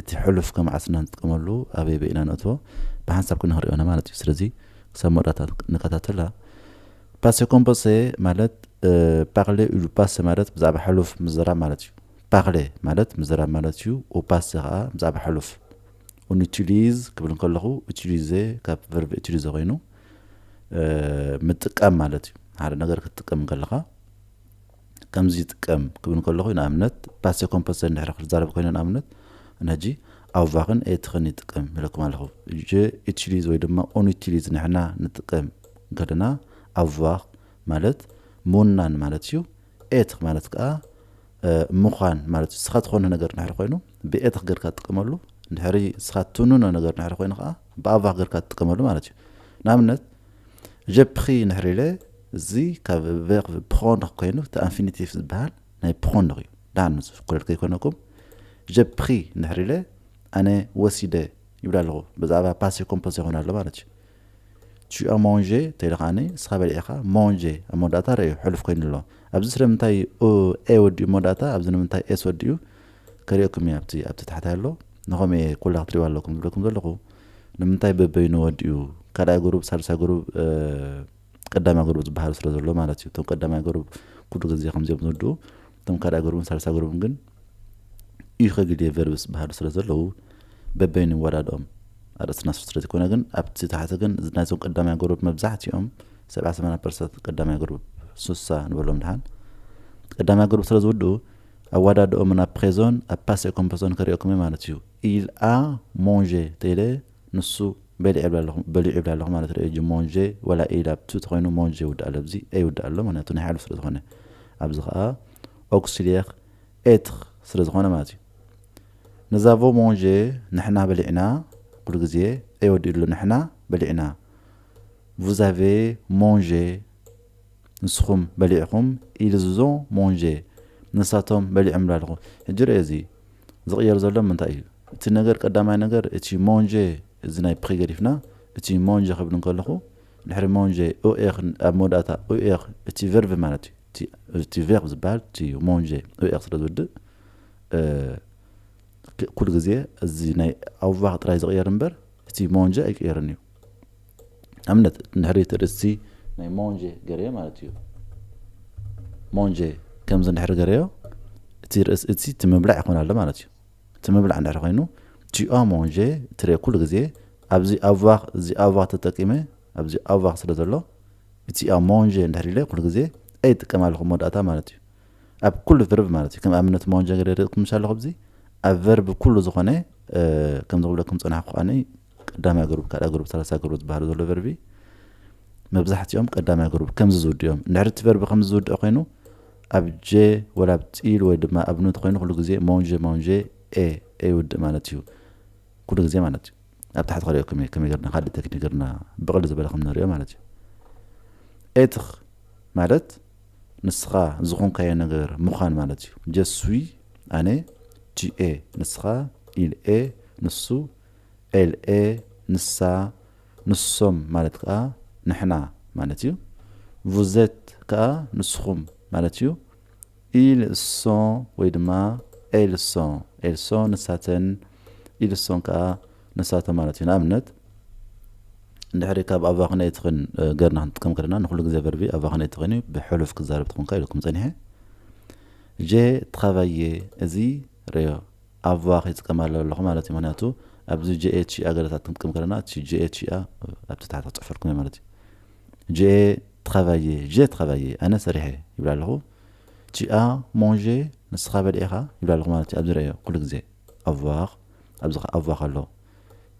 እቲ ሕሉፍ ከም ዓስና ንጥቀመሉ ኣበይበይ ኢና ነእትዎ ብሓንሳብ ክነክርዮ ኢና ማለት እዩ ስለዚ ክሳብ መወዳእታ ንከታተላ ፓሴ ኮምፖሴ ማለት ፓርሌ ኡሉ ፓሰ ማለት ብዛዕባ ሕሉፍ ምዝራብ ማለት እዩ ፓርሌ ማለት ምዝራብ ማለት እዩ ኡፓሴ ከዓ ብዛዕባ ሕሉፍ ኡን ኡቲሊዝ ክብል እንከለኹ ኡቲሊዜ ካብ ቨርብ ኡቲሊዘ ኮይኑ ምጥቃም ማለት እዩ ሓደ ነገር ክትጥቀም እንከለኻ ከምዚ ይጥቀም ክብል እንከለኹ ንኣብነት ፓሴ ኮምፐሰ እንድሕር ክዛረብ ኮይነ ንኣብነት ነጂ ኣውቫኽን ኤትኽን ይጥቀም ይለኩም ኣለኹ ጀ ኢትሽሊዝ ወይ ድማ ኦኒትሽሊዝ ንሕና ንጥቀም እንከለና ኣውቫኽ ማለት ምውናን ማለት እዩ ኤትኽ ማለት ከዓ ምዃን ማለት እዩ ስኻ ትኾነ ነገር ንድሕሪ ኮይኑ ብኤትኽ ገርካ ትጥቀመሉ ንድሕሪ ስኻ ትውንኖ ነገር ንድሕሪ ኮይኑ ከዓ ብኣውቫኽ ገርካ ትጥቀመሉ ማለት እዩ ንኣብነት J'ai pris ንሕሪለ እዚ ካብ ቨርቭ ፕሮንር ኮይኑ እቲ ኣንፊኒቲቭ ዝበሃል ናይ ፕሮንር እዩ ደሓን ንዝፍኩረል ከይኮነኩም J'ai pris ንሕሪለ ኣነ ወሲደ ይብል ኣለኹ ብዛዕባ ፓሴ ኮምፖዝ ይኾን ኣሎ ማለት እዩ ቱ ኣ ሞንጀ ተይለ ከዓኒ ንስኻ በሊዕኻ ሞንጀ ኣብ መወዳእታ ረእዩ ሕሉፍ ኮይኑ ኣሎ ኣብዚ ስለምንታይ ኤ ወዲኡ መወዳእታ ኣብዚ ንምንታይ ኤስ ወዲኡ ከርእየኩም እየ ኣብቲ ኣብቲ ታሕቲ ኣሎ ንኸምኡ እየ ኩላ ክትሪእዋ ኣለኩም ዝብለኩም ዘለኹ ንምንታይ በበይኑ ወዲኡ ካልኣይ ጉሩብ ሳልሳይ ጉሩብ ቀዳማይ ጉሩብ ዝበሃሉ ስለ ዘሎ ማለት እዩ እቶም ቀዳማይ ጉሩብ ኩሉ ግዜ ከምዚኦም ዝወድኡ እቶም ካልኣይ ጉሩብን ሳልሳይ ጉሩብን ግን እዩ ከግልየ ቨርብስ ዝበሃሉ ስለ ዘለዉ በበይኑ ይወዳድኦም ኣርእስትና ስር ስለ ዝኾነ ግን ኣብቲ ታሕቲ ግን ናይዞም ቀዳማይ ጉሩብ መብዛሕትኦም ሰብዓ ሰማንያ ፐርሰንት ቀዳማይ ጉሩብ ሱሳ ንበሎም ድሓን ቀዳማይ ጉሩብ ስለ ዝውድኡ ኣዋዳድኦምን ኣብ ፕሬዞን ኣብ ፓሴ ኮምፐሶን ከሪኦኩም እየ ማለት እዩ ኢል ኣ ሞንዤ ተይለ ንሱ በሊዑ ይብላ ኣለኹ በሊዑ ይብላ ኣለኹ ማለት ሪኦ እጂ ሞንዤ ወላ ኢል ኣብ ቱ ተኾይኑ ሞንዤ ይውዳእ ኣሎ ኣብዚ ኤ ይውዳእ ኣሎ ምክንያቱ ናይ ሓሉ ስለ ዝኾነ ኣብዚ ከኣ ኦክሲልየር ኤትር ስለ ዝኾነ ማለት እዩ ንዛቮ ሞንዤ ንሕና በሊዕና ኩሉ ግዜ ኤ ወዲኡ ኣሎ ንሕና በሊዕና ቡዛቬ ሞንዤ ንስኹም በሊዕኹም ኢልዝ ዞ ሞንዠ ንሳቶም በሊዖም ላልኹ ሕጂ ረኤ እዚ ዝቕየር ዘሎ ምንታይ እዩ እቲ ነገር ቀዳማይ ነገር እቲ ሞንዠ እዚ ናይ ፕኺ ገዲፍና እቲ ሞንዠ ክብል እንከለኹ ድሕሪ ሞንዠ ኡኤኽ ኣብ መወዳእታ ኡኤኽ እቲ ቨርቭ ማለት እዩ እቲ እቲ ቨርቭ ዝበሃል እቲ ሞንዠ ኡኤኽ ስለ ዝውድእ እ ኩሉ ግዜ እዚ ናይ ኣውቫኽ ጥራይ ዝቕየር እምበር እቲ ሞንዠ ኣይቅየርን እዩ ኣብነት እንድሕሪ እቲ ርእሲ ናይ ሞንጀ ገረዮ ማለት እዩ ሞንጀ ከምዚ እንድሕሪ ገረዮ እቲ ርእሲ እቲ እቲ ምብላዕ ይኾን ኣሎ ማለት እዩ እቲ ምብላዕ እንድሕሪ ኮይኑ ቲኦ ሞንጀ ትርኦ ኩሉ ግዜ ኣብዚ ኣቫኽ እዚ ኣቫኽ ተጠቂመ ኣብዚ ኣቫኽ ስለ ዘሎ እቲ ኣብ ሞንጀ እንድሕሪ ኢለ ኩሉ ግዜ ኣይጥቀም ኣለኹ መወዳእታ ማለት እዩ ኣብ ኩሉ ቨርብ ማለት እዩ ከም ኣብነት መወንጀ ገደ ርኢኹም ሻለኹ ኣብዚ ኣብ ቨርብ ኩሉ ዝኾነ ከም ዝብለኩም ፀናሕኩ ከዓኒ ቀዳማይ ግሩብ ካልኣ ግሩብ ሰላሳ ግሩብ ዝበሃሉ ዘሎ ቨርቢ መብዛሕትኦም ቀዳማይ ግሩብ ከምዚ ዝውድእ እዮም እንድሕሪ እቲ ቨርቢ ከምዚ ዝውድእ ኮይኑ ኣብ ጀ ወላ ኣብ ፂል ወይ ድማ ኣብ ኑት ኮይኑ ኩሉ ግዜ ሞንጀ ሞንጀ ኤ ኤ ይውድእ ማለት እዩ ኩሉ ግዜ ማለት እዩ ኣብ ታሕቲ ክሪኦኩም እየ ከመይ ገርና ካልእ ቴክኒክ ገርና ብቕል ዝበለ ከም ንሪኦ ማለት እዩ ኤትኽ ማለት ንስኻ ዝኾንካዮ ነገር ምዃን ማለት እዩ። ጀስ ስዊ፣ ኣነ፣ ጂ ኤ፣ ንስኻ፣ ኢል ኤ፣ ንሱ፣ ኤል ኤ፣ ንሳ፣ ንሶም ማለት ከኣ ንሕና ማለት እዩ። ቭዘት ከኣ ንስኹም ማለት እዩ። ኢል ሶ ወይ ድማ ኤል ሶ፣ ኤል ሶ ንሳተን፣ ኢል ሶን ከኣ ንሳቶም ማለት እዩ ንኣብነት እንድሕሪ ካብ ኣቫክነይ ትኽን ገርና ክንጥቀም ከለና ንኩሉ ግዜ ቨርቢ ኣቫክነይ ትኽን እዩ ብሕሉፍ ክዛረብ ትኽንካ ኢልኩም ጸኒሐ ጀ ትኻቫየ እዚ ረዮ ኣቫክ ይጥቀማለ ኣለኹ ማለት እዩ ምክንያቱ ኣብዚ ጀኤች ኣገለታት ክንጥቀም ከለና እቲ ጀኤች እያ ኣብቲ ታሕቲ ክፅሕፈልኩም እየ ማለት እዩ ጀኤ ትኻቫየ ጀ ትኻቫየ ኣነ ሰሪሐ ይብላ ኣለኹ ቲኣ ሞንዤ ንስኻ በሊዕኻ ይብላ ኣለኹ ማለት እዩ ኣብዚ ረዮ ኩሉ ግዜ ኣቫክ ኣብዚ ከ ኣቫ ከሎ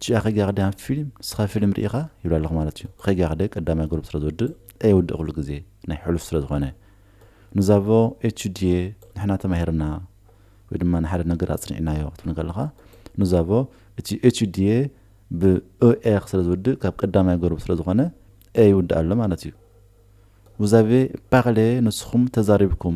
ቺኣ ከይጋገ ድያ ኣብቲ ፊልም ንስካ ፊልም ሪኢካ ይብላ ኣለኩ ማለት እዩ ከይጋገ ቀዳማይ ግሩፕ ስለ ዝወድእ ኣይውድእ ኩሉ ግዜ ናይ ሕሉፍ ስለ ዝኮነ ኑዛቮ ኤች ዲየ ንሕና ተማሂርና ወይ ድማ ንሓደ ነገር ኣጽኒዕናዮ ክትብል ከለካ ኑዛቮ እቲ ኤች ዲየ ብ ኦኤክ ስለ ዝውድእ ካብ ቀዳማይ ግሩፕ ስለ ዝኮነ ኤ ይውድእ ኣሎ ማለት እዩ ውዛቬ ፓቅሌ ንስኩም ተዛሪብኩም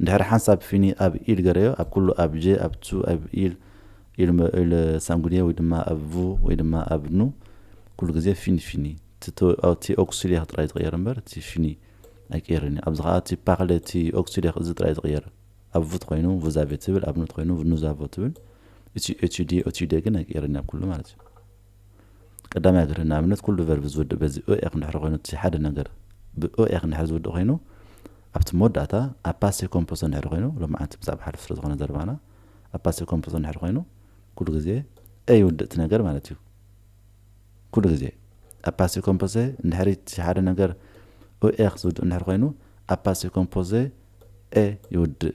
እንድሕር ሓንሳብ ፊኒ ኣብ ኢል ገረዮ ኣብ ኩሉ ኣብ ጀ ኣብ ቱ ኣብ ኢል ኢል ሳንጉድየ ወይ ድማ ኣብ ቭ ወይ ድማ ኣብ ኑ ኩሉ ግዜ ፊን ፊኒ እቲ ኦክሲሌክ ጥራይ ዝቕየር እምበር እቲ ፊኒ ኣይቅየርን እዩ ኣብዚ ከኣ እቲ ፓክለ እቲ ኦክሲሌክ እዚ ጥራይ ዝቕየር ኣብ ቭት ኮይኑ ቭዛቬ ትብል ኣብ ኑት ኮይኑ ቭኑዛቮ ትብል እቲ ኤቱዴ ኦቲዴ ግን ኣይቅየርን እዩ ኣብ ኩሉ ማለት እዩ። ቀዳማይ ኣድህሪ ንኣብነት ኩሉ ቨርብ ዝውድእ በዚ እ ኤክ እንድሕር ኮይኑ እቲ ሓደ ነገር ብ እ ኤክ እንድሕር ዝውድእ ኮይኑ ኣብቲ መወዳእታ ኣብ ፓሴ ኮምፖሶ እንድሕር ኮይኑ ሎማዓንቲ ብዛዕባ ሓሉፍ ስለ ዝኾነ ዘረባና ኣብ ፓሴ ኮምፖሶ እንድሕር ኮይኑ ኩሉ ግዜ እ ይውድእ እቲ ነገር ማለት እዩ ኩሉ ግዜ ኣብ ፓሴ ኮምፖሴ እንድሕር እቲ ሓደ ነገር እ ኤክ ዝውድእ እንድሕር ኮይኑ ኣብ ፓሴ ኮምፖሴ እ ይውድእ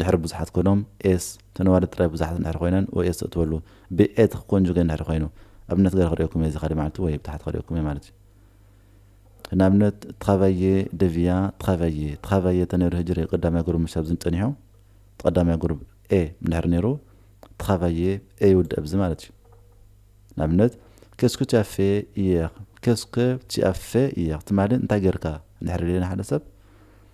ድሕሪ ብዙሓት ኮይኖም s ተነባዲ ጥራይ ብዙሓት እንድሕር ኮይነን ወይ s ተእትወሉ ብ a ትኽ ኮንጁገ እንድሕር ኮይኑ ኣብነት ገረ ክርእየኩም እየ እዚ ካሊእ መዓልቲ ወይ ብታሕት ክርእየኩም እየ ማለት እዩ ንኣብነት ትኻቫዬ ደቪያ ትኻቫዬ ትኻቫዬ እንተነይሩ ህጂ ርእ ቀዳማይ ጉርብ ምሽ ኣብዚ ጸኒሑ ቀዳማይ ጉርብ a እንድሕር ነይሩ ትኻቫዬ a ይውድእ ኣብዚ ማለት እዩ ንኣብነት ኬስኩ ቲያፌ ኢየር ኬስኩ ቲያፌ ኢየር ትማሊ እንታይ ጌርካ እንድሕር ኢልና ሓደ ሰብ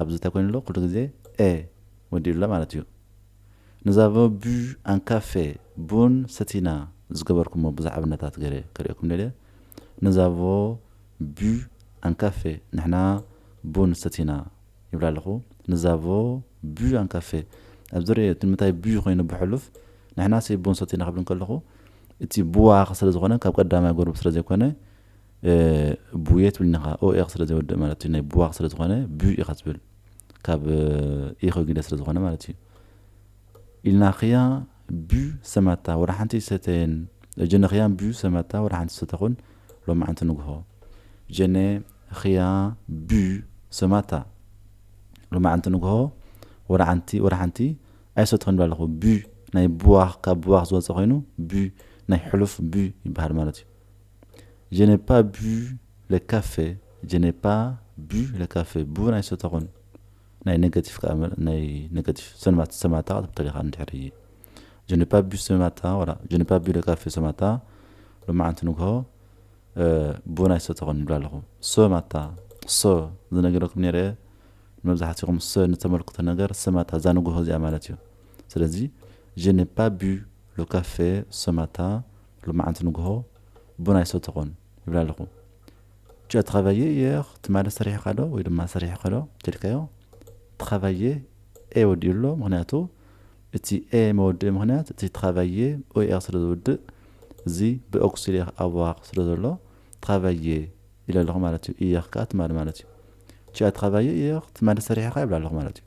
ኣብዚ ተኮይኑሎ ኩሉ ግዜ ኤህ ወዲኡላ ማለት እዩ Nous avons bu un café ቡን ሰቲና ዝገበርኩሞ ብዙሕ ኣብነታት ገይረ ከርእየኩም ደልየ Nous avons bu un café ንሕና ቡን ሰቲና ይብል ኣለኹ Nous avons bu un café ኣብዚ ርእዮ ንምንታይ bu ኮይኑ ብሕሉፍ ንሕናሲ ቡን ሰቲና ክብል እንከለኹ እቲ ቡዋኽ ስለዝኾነ ካብ ቀዳማይ ጎርብ ስለዘይኮነ ቡየ ትብል ኒኻ ኦኤኽ ስለ ዘይወድእ ማለት እዩ ናይ ቡዋኽ ስለ ዝኾነ ቡይ ኢኻ ትብል ካብ ኢኾ ግደ ስለ ዝኾነ ማለት እዩ ኢልናኽያ ቡ ሰማታ ወደ ሓንቲ ሰተየን ጀነኽያን ቡ ሰማታ ወደ ሓንቲ ሰተኹን ሎማዓንቲ ንግሆ ጀነ ኽያ ቡ ሰማታ ሎማዓንቲ ንግሆ ወደ ሓንቲ ወደ ሓንቲ ኣይሰተኹን ይብል ኣለኹ ቡ ናይ ቡዋኽ ካብ ቡዋኽ ዝወፀ ኮይኑ ቡ ናይ ሕሉፍ ቡ ይበሃል ማለት እዩ Je n'ai pas bu le café Je n'ai pas bu le café bu ናይ ሶታ ኩን ናይ ነገቲቭ ከኣ መ- ናይ ነገቲቭ ሰንማት ሰማታ ክትብል ተሊኻ እንድሕሪ Je n'ai pas bu ሰማታ ወላ Je n'ai pas bu le café ሰማታ ሎማዓንቲ ንግሆ እ፣ ቡ ናይ ሶታ ኩን ይብል ኣለኹ ሰማታ ሰ ዝነገረኩም ነይረ እየ ንመብዛሕትኹም ሰ ንተመልክቶ ነገር ሰማታ እዛ ንግሆ እዚኣ ማለት እዩ ስለዚ Je n'ai pas bu le café ሰማታ ሎማዓንቲ ንጉሆ ቡን ኣይሰተኹን ይብላ ኣለኹ። ጭ ትኸበየ የኽ ትማሊ ሰሪሕኻ ዶ ወይ ድማ ሰሪሕኺ ዶ እንተኢልካዮ ትኸበየ ኤ ወዲኡ ኣሎ ምክንያቱ እቲ ኤ መወድኢ ምክንያት እቲ ትኸበየ ኦኤኽ ስለ ዝውድእ እዚ ብኦክሲሌኽ ኣዋኽ ስለ ዘሎ ትኸበየ ኢለ ኣለኹ ማለት እዩ እየኽ ከዓ ትማሊ ማለት እዩ ጭ ትኸበየ እየኽ ትማሊ ሰሪሕኻ ይብላ ኣለኹ ማለት እዩ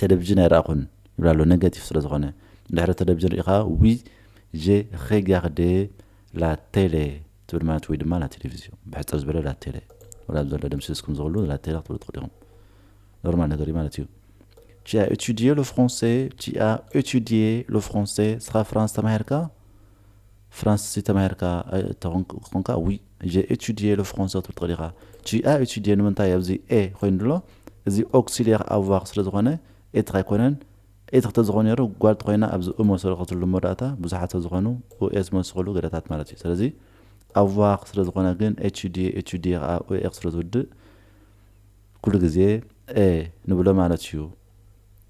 ተለቪዥን ኣይረኣኹን ይብል ኣሎ ነገቲቭ ስለ ዝኾነ ድሕሪ ተለቪዥን ርኢኻ ዊ ዠ ሬጋርደ ላ ቴለ ትብል ማለት ወይ ድማ ላ ቴሌቪዝዮ ብሕፅር ዝበለ ላ ቴለ ወላ ኣብ ዘሎ ደምሲስኩም ዝኽሉ ላ ቴለ ክትብሉ ትኽእሉ ኢኹም ኖርማል ነገር እዩ ማለት እዩ Tu as étudié le français, tu as étudié le français, sera France Tamerka ፍራንስሲ ተማሂርካ ተኾንካ ዊ ጀ ኤቱድየ ለ ፍሮንሰ ክትብል ትኽእል ኢኻ ጂ ኣ ኤቱድየ ንምንታይ ኣብዚ ኤ ኮይኑ ኣሎ እዚ ኦክሲልየር ኣቭዋር ስለ ዝኾነ ኤትኽ ኣይኮነን ኤትኽ ተዝኾን ነይሩ ጓል ተኾይና ኣብዚ እ መሰረኸትሉ መወዳእታ ብዙሓት ስለ ዝኾኑ ኡ ኤ ዝመሰኸሉ ገደታት ማለት እዩ ስለዚ ኣቭዋር ስለ ዝኾነ ግን ኤቱድየ ኤቱድየ ኸኣ ኡ ኤ ስለ ዝውድእ ኩሉ ግዜ ኤ ንብሎ ማለት እዩ።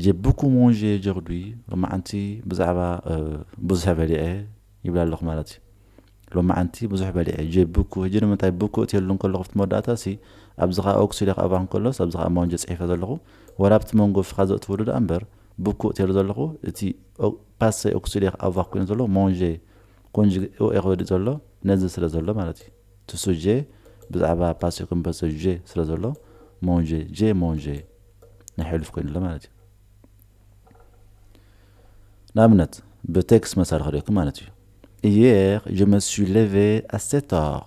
J'ai beaucoup mangé aujourd'hui ሎማዓንቲ ብዛዕባ ብዙሕ በሊዐ ይብላ ኣለኹ ማለት እዩ ሎማዓንቲ ብዙሕ በሊዐ ጀ ብኩ ህጂ ንምንታይ ብኩ እትየሉ እንከለኹ ኣብቲ መወዳእታ ሲ ኣብዚ ከዓ ኦክስ ኢለ ክኣባ እንከሎስ ኣብዚ ከዓ ማንጀ ፅሒፈ ዘለኹ ወላ ኣብቲ መንጎ ፍኻ ዘእትውሉ ደኣ እምበር ብኩ እትየሉ ዘለኹ እቲ ፓሰ ኦክስ ኢለ ክኣባ ኮይኑ ዘሎ ማንጀ ኮንጅ ኦ ኤ ክበልእ ዘሎ ነዚ ስለ ዘሎ ማለት እዩ እቲ ሱጄ ብዛዕባ ፓስዮ ኮምፐሶ ዤ ስለ ዘሎ ሞንዤ ዤ ሞንዤ ናይ ሕሉፍ ኮይኑ ኣሎ ማለት እዩ። ንኣብነት ብቴክስ መሳሊ ክርእየኩም ማለት እዩ። ኢየር ጀ መ ሱይ ሌቬ ኣ ሴት ኦር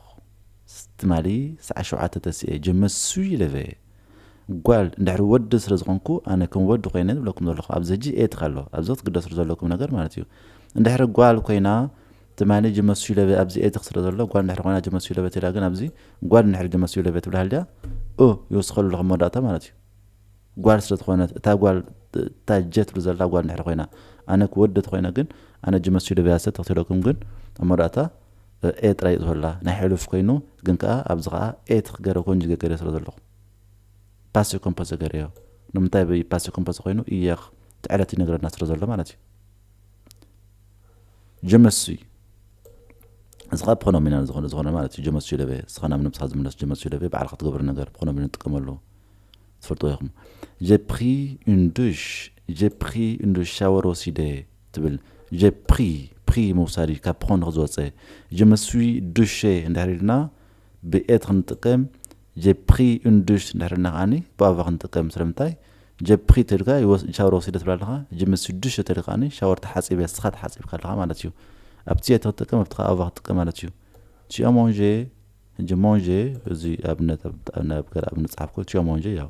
ትማሊ ሰዓት ሸውዓተ ተሲኤ ጀ መ ሱይ ሌቬ ጓል እንድሕሪ ወዲ ስለ ዝኾንኩ ኣነ ከም ወዲ ኮይነ ዝብለኩም ዘለኹ ኣብዚ ሕጂ ኤትር ኣሎ ኣብዚ ክትግደስሉ ዘለኩም ነገር ማለት እዩ። እንድሕሪ ጓል ኮይና ትማሊ ጅመሱ ለበ ኣብዚ ኤትክ ስለ ዘሎ ጓል ድሕሪ ኮይና ጅመሱ ለበ ተላ ግን ኣብዚ ጓል እንድሕሪ ጅመሱ ለበ ትብላ ሃልያ እ ይውስከሉ ኣለኹ መወዳእታ ማለት እዩ ጓል ስለ ትኾነት እታ ጓል እታ ጀ ትብሉ ዘላ ጓል ድሕሪ ኮይና ኣነ ክወደ ተኮይነ ግን ኣነ ጅመሱ ለበ ያሰ ተክትለኩም ግን ኣብ መወዳእታ ኤ ጥራይ እዩ ዝሆላ ናይ ሕሉፍ ኮይኑ ግን ከኣ ኣብዚ ከኣ ኤትክ ገረ ኮንጅ ገገረ ስለ ዘለኹ ፓሴ ኮምፖዘ ገረዮ ንምንታይ ብ ፓሴ ኮምፖዘ ኮይኑ እየኽ ትዕለት ይነግረና ስለ ዘሎ ማለት እዩ ጀመሱይ እዚ ካብ ፖኖሚናል ዝኾነ ዝኾነ ማለት እዩ ጀመሱይ ደበ እስኻ ናብ ነብስኻ ዝምለስ ጀመሱይ ደበ ባዕልኻ ትገብሮ ነገር ፖኖሚናል ንጥቀመሉ ትፈልጥዎ ኢኹም ጀ ፕሪ ን ዱሽ ጀ ፕሪ ን ዱሽ ሻወር ወሲደ ትብል ጀ ፕሪ ፕሪ ምውሳድ እዩ ካብ ፖን ንክዝወፀ ጀመሱይ ዱሸ እንድሕር ኢልና ብ'የ' ክንጥቀም፣ J'ai pris une douche እንድሕር ኢልና ከኣ ብ'ava' ክንጥቀም፣ ስለምንታይ J'ai pris ተልካ ሻወር ወሲደ ትብል ኣለኻ፣ Je me suis douché ተልካ ከኣ ሻወር ተሓጺበ ንስኻ ተሓጺብካ ኣለኻ ማለት እዩ። ኣብቲ የ ተክትጥቀም ኣብቲ ከኣ ava ክትጥቀም ማለት እዩ። Tu as mangé፣ Je mange፣ እዚ ኣብነት ኣብ ገለ ኣብነት ዝጸሓፍኩዎ፣ Tu as mangé፣ ያው።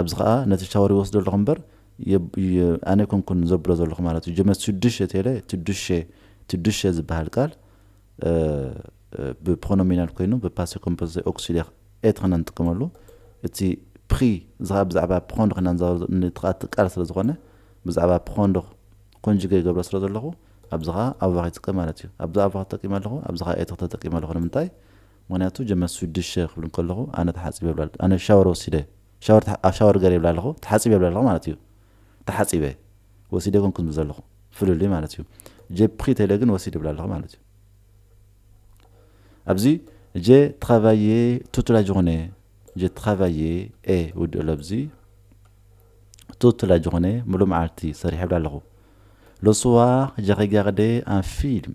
ኣብዚ ከኣ ነቲ ሻወር ይወስዶ ኣለኹ እምበር ኣነ ኣይኮንኩን ዘብሎ ዘለኹ ማለት እዩ። ጀመት ሽዱሸ ቴለ ትዱሸ ትዱሸ ዝበሃል ቃል ብፕሮኖሚናል ኮይኑ ብፓሴ ኮምፖዘ ኦክሲሊያር ኤት ኸና ንጥቀመሉ እቲ ፕሪ እዚ ከኣ ብዛዕባ ፕሮንድ ኸና እቲ ከኣ እቲ ቃል ስለ ዝኾነ ብዛዕባ ፕሮንድ ኮንጅገ ይገብሮ ስለ ዘለኹ ኣብዚ ከኣ ኣቫር ይጥቀም ማለት እዩ። ኣብዚ ኣቫር ተጠቂመ ኣለኹ ኣብዚ ከኣ ኤት ተጠቂመ ኣለኹ ንምንታይ ምክንያቱ ጀመስዊት ድሸ ክብል ከለኩ ኣነ ተሓጺበ ይብላ ኣለኩ ኣነ ሻወር ወሲደ ሻወር ኣብ ሻወር ገረ ይብላ ኣለኩ ተሓጺበ ይብላ ኣለኩ ማለት እዩ ተሓጺበ ወሲደ ኣይኮንኩን ዝብል ዘለኩ ፍልልይ ማለት እዩ ጀፕኪ ተለ ግን ወሲደ ይብላ ኣለኩ ማለት እዩ ኣብዚ ጀ ትካቫየ ቱትላ ጆኮነ ጀ ትካቫየ ኤ ውድእ ኣሎ ኣብዚ ቱትላ ጆኮነ ሙሉ መዓልቲ ሰሪሐ ይብላ ኣለኩ ሎስዋ ጀኸጊያክደ ኣን ፊልም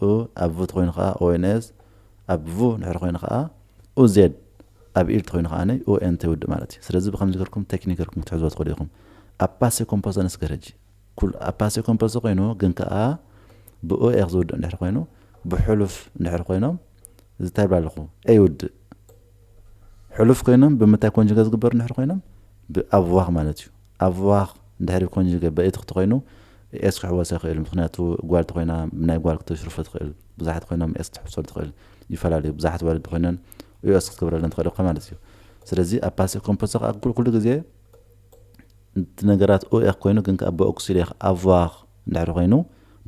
ኡ ኣብ ቭ ተኾይኑ ከኣ ONS፣ ኣብ ቭ ድሕሪ ኮይኑ ከኣ UZ፣ ኣብ ኢል ተኾይኑ ከኣ UNT ይውድእ ማለት እዩ። ስለዚ ብኸምዚ ገርኩም ተክኒክ ገርኩም ክትሕዝዎ ትኽእሉ ኢኹም። ኣብ ፓሴ ኮምፖሰ ነስ ገረጂ ኩሉ ኣብ ፓሴ ኮምፖሰ ኮይኑ ግን ከኣ ብ OX ዝውድእ እንድሕሪ ኮይኑ ብ ሕሉፍ እንድሕሪ ኮይኖም እዚ ታይ ይብላ ኣለኹ A ይውድእ ሕሉፍ ኮይኖም ብምንታይ ኮንጅገ ዝግበሩ እንድሕሪ ኮይኖም ብ ኣብዋኽ ማለት እዩ። ኣብ ዋክ እንድሕሪ ኮንጅገ በእቲ ክትኮይኑ ኤስ ክሕወሰ ይክእል ምክንያቱ ጓል ተኮይና ብናይ ጓል ክተሽርፎ ትክእል ብዙሓት ኮይኖም ኤስ ክትሕውሰሉ ትክእል ይፈላለዩ ብዙሓት ኣዋልድ ኮይነን ኡኤስ ክትገብረለን ትክእል እካ ማለት እዩ ስለዚ ኣብ ፓሲቭ ኮምፖዘ ከዓ ኩሉ ግዜ እቲ ነገራት ኡኤክ ኮይኑ ግን ከዓ ብኦክሲሌክ ኣቫክ እንድሕሪ ኮይኑ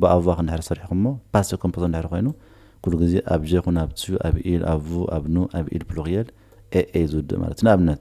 ብኣቫክ እንድሕሪ ሰሪሕኩሞ ፓሲቭ ኮምፖዘ እንድሕሪ ኮይኑ ኩሉ ግዜ ኣብ ጀ ኩን ኣብ ቹ ኣብ ኢል ኣብ ቡ ኣብ ኑ ኣብ ኢል ፕሉሪየል ኤኤ ዝውድእ ማለት ንኣብነት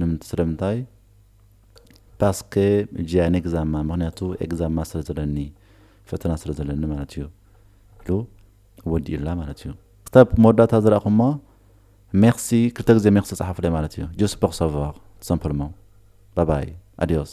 ንምንት ስለምንታይ ፓስከ ጂኣን ኤግዛማ ምክንያቱ ኤግዛማ ስለ ዘለኒ ፈተና ስለ ዘለኒ ማለት እዩ ኢሉ ወዲኡላ ማለት እዩ። ክሳብ መወዳእታ ዝረኣኹሞ ሜርሲ ክልተ ግዜ ሜርሲ ጸሓፉለይ ማለት እዩ ጁስ ፖር ሳቫር ትሰምፐልሞን ባባይ ኣድዮስ።